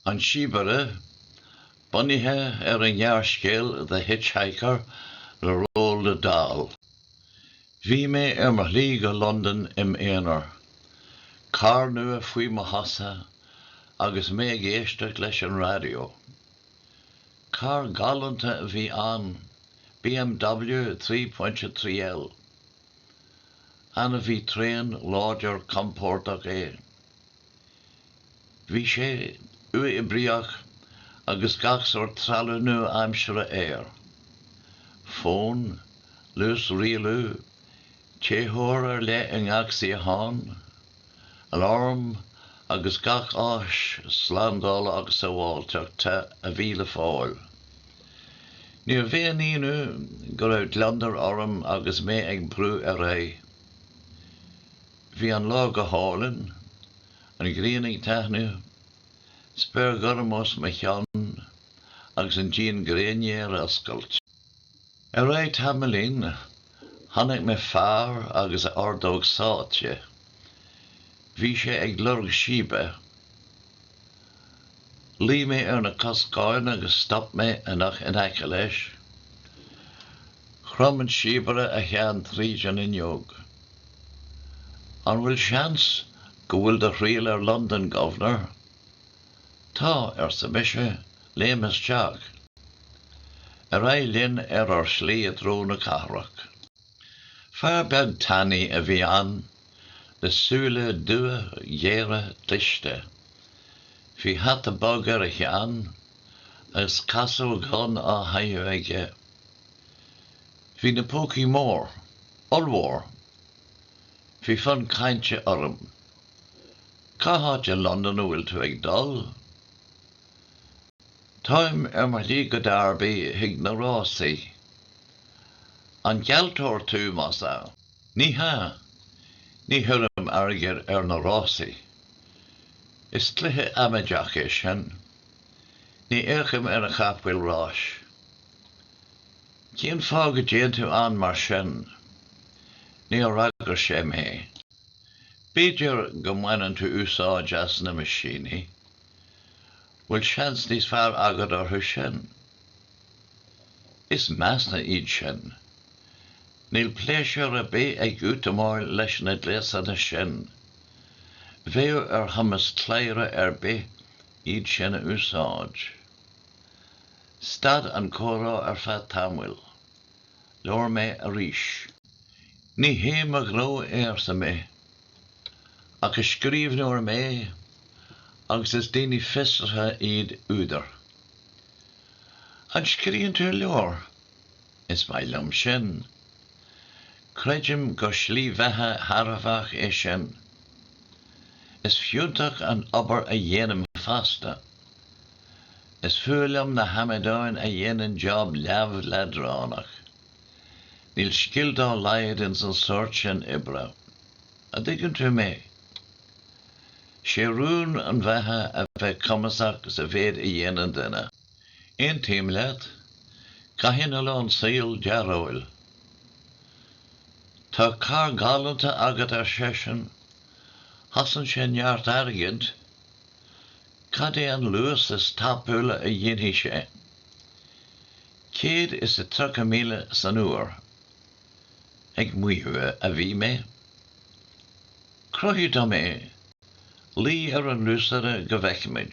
An Síobaire, Bunaithe ar an ngearrscéal The Hitchhiker le Roald Dahl. Bhí mé ar mo shlí go Londain im' aonar. Carr nua faoi mo chosa agus mé ag éisteacht leis an raidió. Carr galánta a bhí ann, BMW 3.3L. Ainmhí tréan, láidir, compordach é. Bhí sé uathoibríoch agus gach sórt trealamh nua-aimseartha air, fón, luas rialú, téitheoir ar leith i ngach suíochán, aláram agus gach áis slándála agus sábháilteachta a bhí le fáil. Níorbh aon ionadh go raibh gliondar orm agus mé ag brú ar aghaidh. Bhí an lá go hálainn, an ghrian ag taithneamh, spéir gorm os mo chionn agus an díon gréine ar oscailt. Tar éis tamaillín, chonaic mé fear agus a ordóg sáite. Bhí sé ag lorg síbe. Luigh mé ar na coscáin agus stop mé an carr in aice leis. Chrom an síobaire a cheann tríd an fhuinneog. An bhfuil seans go bhfuil do thriall ar Londain, Governor? Tá, arsa mise, léim isteach. Ar aghaidh linn ar ár slí i dtreo na cathrach. Fear beag tanaí a bhí ann, le súile dubha géara cliste. Bhí hata bog ar a cheann agus casóg dhonn á chaitheamh aige. Bhí na pócaí mór, ollmhór. Bhí fonn cainte orm. Cá háit i Londain a bhfuil tú ag dul? Táim ar mo shlí go Derby chuig na rásaí. An gealltóir tú, más ea? Ní hea. Ní chuirim airgead ar na rásaí. Is cluiche amaideach é sin. Ní fhéachaim ar chapaill ráis. Cén fáth go dtéann tú ann mar sin? Níor fhreagair sé mé. B'fhéidir go mbaineann tú úsáid as na meaisíní? Bhfuil seans níos fearr agat orthu sin? Is measa iad sin. Níl pléisiúr ar bith ag útamáil leis na gléasanna sin. Bheadh ar chumas cladhaire ar bith iad sin a úsáid. Stad an comhrá ar feadh tamaill. Labhair mé arís. Ní hé mo ghnó é arsa mé. ach is scríbhneoir mé agus is daoine fiosraithe iad údair. An scríobhann tú leabhair? Is maith liom sin. Creidim gur slí bheatha thairbheach é sin. Is fiúntach an obair a dhéanaim fosta. Is fuath liom na hamadáin a dhéanann job leamh leadránach. Níl scil dá laghad ins an sórt sin oibre. A' dtuigeann tú mé? 'Sé rún na beatha a bheith cumasach sa mhéid a dhéanann duine. Aontaím leat. Caitheann a lán saol dearóil. Tá carr galánta agat ar seisean. Chosain sé neart airgid. Caidé an luas is tapúla a dhéanfaidh sé? Céad is a tríocha míle san uair ag maíomh a bhí mé. Cruthaigh dom é. Luigh ar an luasaire go bhfeicfimid.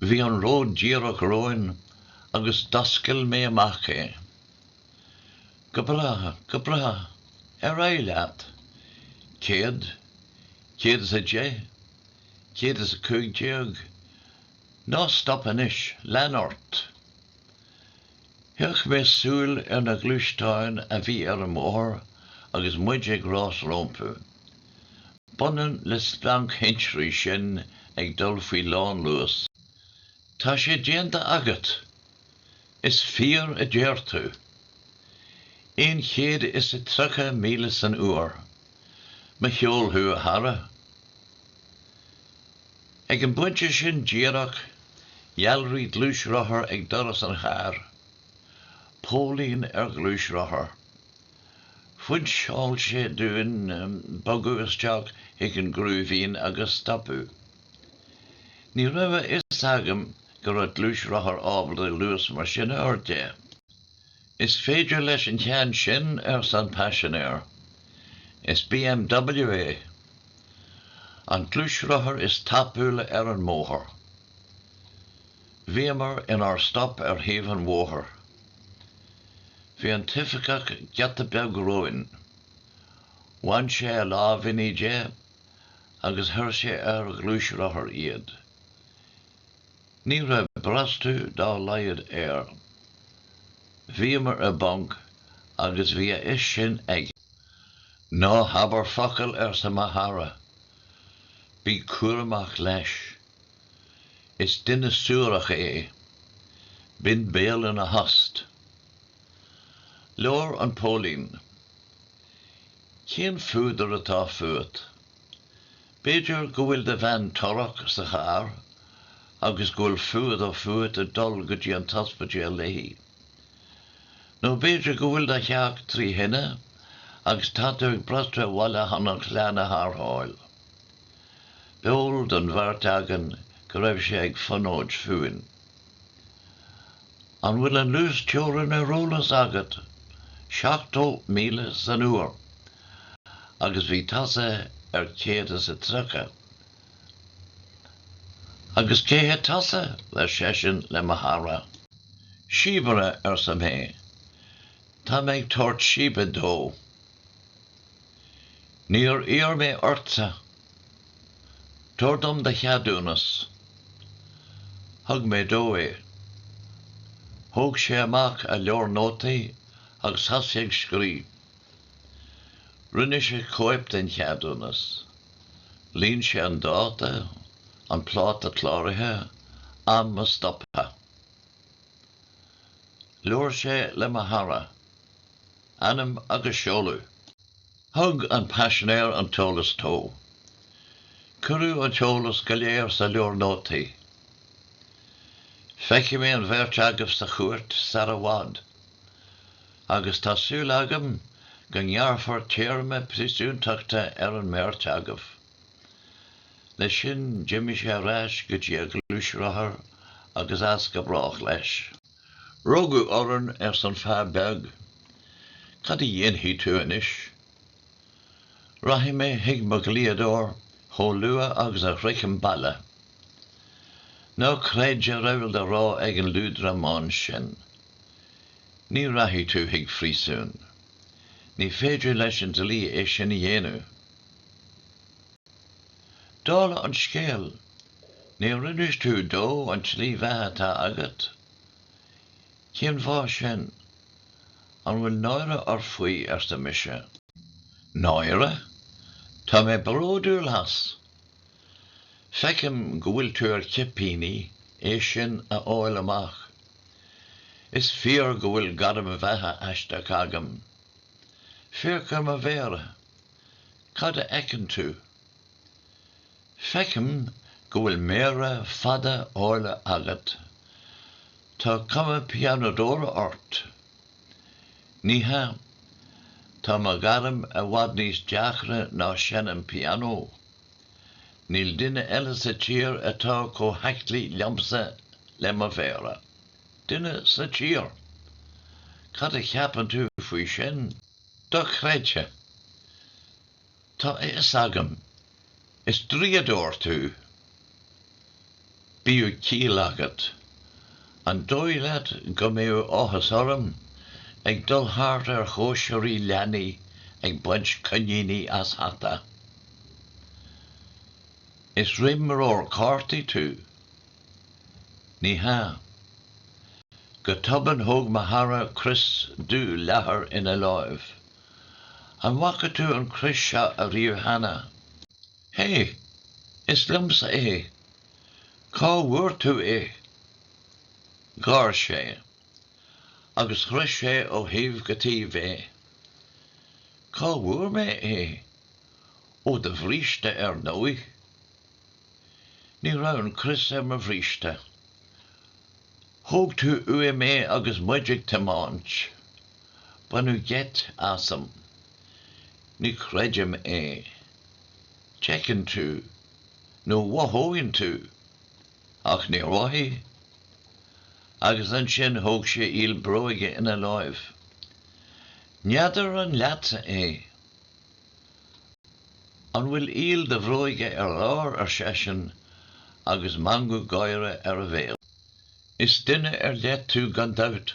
Bhí an ród díreach romhainn agus d'oscail mé amach é. Go breá, go breá. Ar aghaidh leat. Céad, céad is a deich, céad is a cúig déag. Ná stop anois, lean ort! Chaith mé súil ar na gluaisteáin a bhí ar an mbóthar agus muid ag rás rómpu. B'ionann le splanc thintrí sinn ag dul faoi lánluas. Tá sé déanta agat! Is fíor a deir tú! Aon chéad is a tríocha míle san uair. Mo cheol thú, a chara! Ag an bpointe sin díreach, dhealraigh gluaisrothar ag doras an chairr. Póilín ar ghluaisrothar. Phointeáil sé dúinn bogadh isteach chuig an gcrúibhín agus stopadh. Ní raibh a fhios agam go raibh gluaisrothair ábalta luas mar sin a fháil. Is féidir leis an cheann sin, arsa an paisinéir. Is BMW é. An gluaisrothar is tapúla ar an mbóthar. Bhíomar inár stop ar thaobh an bhóthair. Bhí an t-oifigeach giota beag romhainn. Bhain sé a lámhainní de agus chuir sé ar a ghluaisrothar iad. Ní raibh brostú dá laghad air. Bhíomar i bponc agus bhí a fhios sin aige. Ná habair focal, arsa mo chara. Bí cúramach leis. Is duine suarach é. Bíodh do bhéal ina thost. Labhair an póilín. Cén fuadar atá fút? B'fhéidir go bhfuil do bhean torrach sa charr agus go bhfuil fuadar fút ag dul go dtí an t-ospidéal léi. Nó b'fhéidir go bhfuil do theach trí thine agus tá tú ag brostú abhaile chun an chlann a tharrtháil. B'eol don bheirt againn go raibh sé ag fonóid fúinn. An bhfuil an luasteorainn ar eolas agat? 70 míle san uair agus bhí tusa ar céad is a tríocha. Agus cé hé tusa? ar seisean le mo chara. Síobaire, arsa mé. Tá mé ag tabhairt síbe dó. Níor iarr mé ortsa, Tabhair dom do cheadúnas. Thug mé dó é. Thóg sé amach a leabhar nótaí agus thosaigh ag scríobh. Rinne sé cóip den cheadúnas. Líon sé an dáta, an pláta cláraithe, am a stoptha. Labhair sé le mo chara. Ainm agus seoladh. Thug an paisinéir an t-eolas dó. Cuireadh an t-eolas go léir sa leabhar nótaí. Feicfidh mé an bheirt agaibh sa chúirt sar i bhfad. Agus tá súil agam go ngearrfar téarma príosúntachta ar an mbeirt agaibh. Leis sin d'imigh sé ar ais go dtí a ghluaisrothar agus as go brách leis. Rugadh orainn arsa an fear beag. Cad a dhéanfaidh tú anois? Rachaidh mé chuig mo dhlíodóir chomh luath agus a shroichim baile. Ná creid a raibh le rá ag an liúdramán sin. Ní rachaidh tú chuig príosún. Ní féidir leis an dlí é sin a dhéanamh. Dála an scéil, Níor inis tú dom an tslí bheatha atá agat? Cén fáth sin? An bhfuil náire ort faoi? arsa mise. Náire? Tá mé bródúil as! Feicim go bhfuil tú ar chipíní é sin a fháil amach. Is fíor go bhfuil gairm bheatha aisteach agam. Féach ar mo mhéara! Cad a fheiceann tú? Feicim go bhfuil méara fada áille agat. Tá cuma pianódóra ort. Ní hea. Tá mo ghairm i bhfad níos deacra ná seinm pianó. Níl duine eile sa tír atá chomh haclaí liomsa le mo mhéara. Duine sa tír! Cad a cheapann tú faoi sin? Dochreidte! Tá a fhios agam. Is draíodóir tú. Bíodh ciall agat. An dóigh leat go mbeadh áthas orm ag dul thart ar chóisirí leanaí ag baint coiníní as hata? Is imreoir cártaí tú. Ní hea. Go tobann thóg mo chara crios dubh leathair ina láimh. An bhfaca tú an crios seo ariamh cheana? Hé! Is liomsa é! Cá bhfuair tú é? Gháir sé. Agus chroith sé ó thaobh go taobh é. Cá bhfuair mé é? Ó do bhríste ar ndóigh! Ní raibh an crios ar mo bhríste. Thóg tú uaim é agus muid ag tiomáint. Baineadh geit asam. Ní chreidim é. D'fheicinn tú, nó mhothóinn tú, ach níor mhothaigh? Agus ansin thóg sé iall bróige ina láimh. N'fheadar an leatsa é? An bhfuil iall do bhróige ar lár, ar seisean, agus meangadh gáire ar a bhéal. Is duine ar leith tú gan dabht.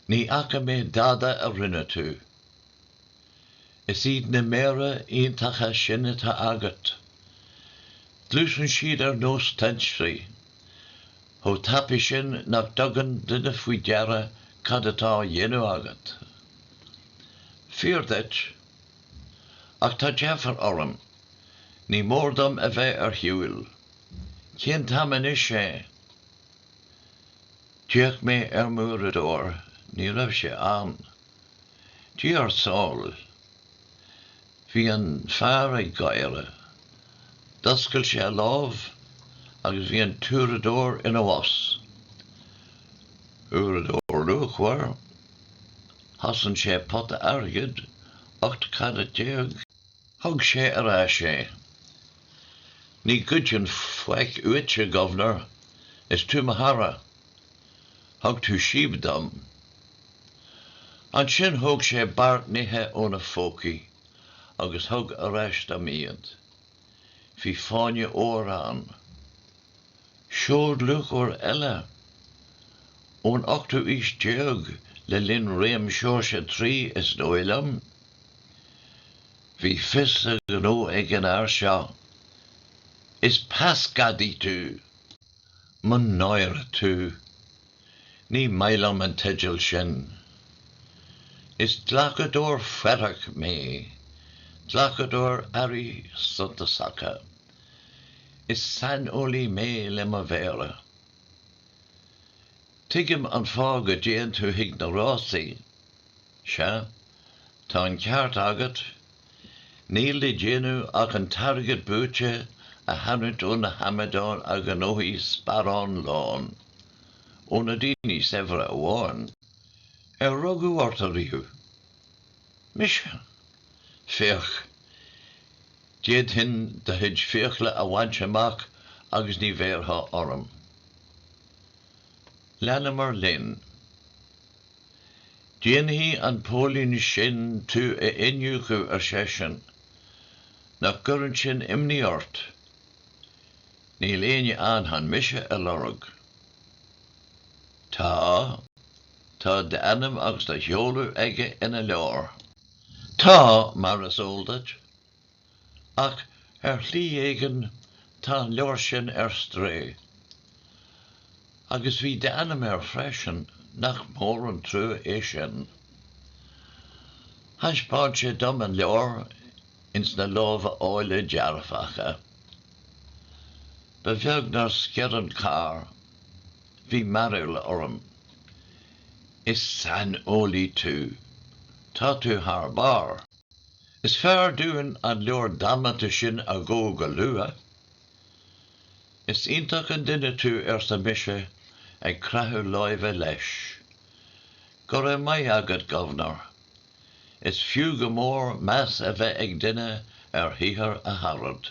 Ní fhaca mé dada a rinne tú. Is iad na méara iontacha sin atá agat. Gluaiseann siad ar nós tintrí. chomh tapaidh sin nach dtugann duine faoi deara cad atá á dhéanamh agat. Fíor duit. Ach tá deifir orm. Ní mór dom a bheith ar shiúl. Cén t-am anois é? D'fhéach mé ar m'uaireadóir, ní raibh sé ann. Dia ár sábháil. Bhí an fear ag gáire. D'oscail sé a lámh agus bhí an t-uaireadóir ina bhos. Uaireadóir luachmhar. Chosain sé pota airgid, ocht carat déag. Thug sé ar ais é. Ní ghoidfinn faic uaitse, gobhnar, is tú mo chara. Thug tú síob dom. Ansin thóg sé beart nithe óna phócaí agus thug ar ais dom iad. Bhí fáinne óir ann. Seod luachmhar eile! Ón ochtú aois déag, le linn réim Seoirse a Trí is dóigh liom, bhí fios a ghnó ag an fhear seo. Is peasghadaí tú! Mo náire tú! Ní maith liom an teideal sin. Is glacadóir faireach mé, glacadóir earraí suntasacha. Is saineolaí mé le mo mhéara. Tuigim an fáth go dtéann tú chuig na rásaí, sea? Tá an ceart agat. Níl le déanamh ach an t-airgead buaite a tharraingt ó na hamadáin a ghnóthaigh sparán lán. Ó na daoine saibhre amháin. Ar rugadh ort ariamh? Mise? Féach. D'fhéadfainn do chuid fiacla a bhaint amach agus ní bhéarfá orm. Leanamar linn. Déanfaidh an póilín sin tú a iniúchadh, ar seisean. Nach gcuireann sin imní ort? Níl éinne ann chun mise a lorg. Tá, tá d'ainm agus do sheoladh aige ina leabhar. Tá, mar is eol duit. ach ar shlí éigin tá an leabhar sin ar strae. Agus bhí d'ainm air freisin, nach mór an trua é sin. Thaispeáin sé dom an leabhar ins na lámha áille dearfacha. Ba bheag nár sciorr an carr. Bhí mearbhall orm. Is saineolaí tú. Tá tú thar barr. Is fearr dúinn an leabhar damanta sin a dhó go luath. Is iontach an duine tú, arsa mise ag creathadh láimhe leis. Go raibh maith agat, governor. Is fiú go mór meas a bheith ag duine ar shaothar a charad.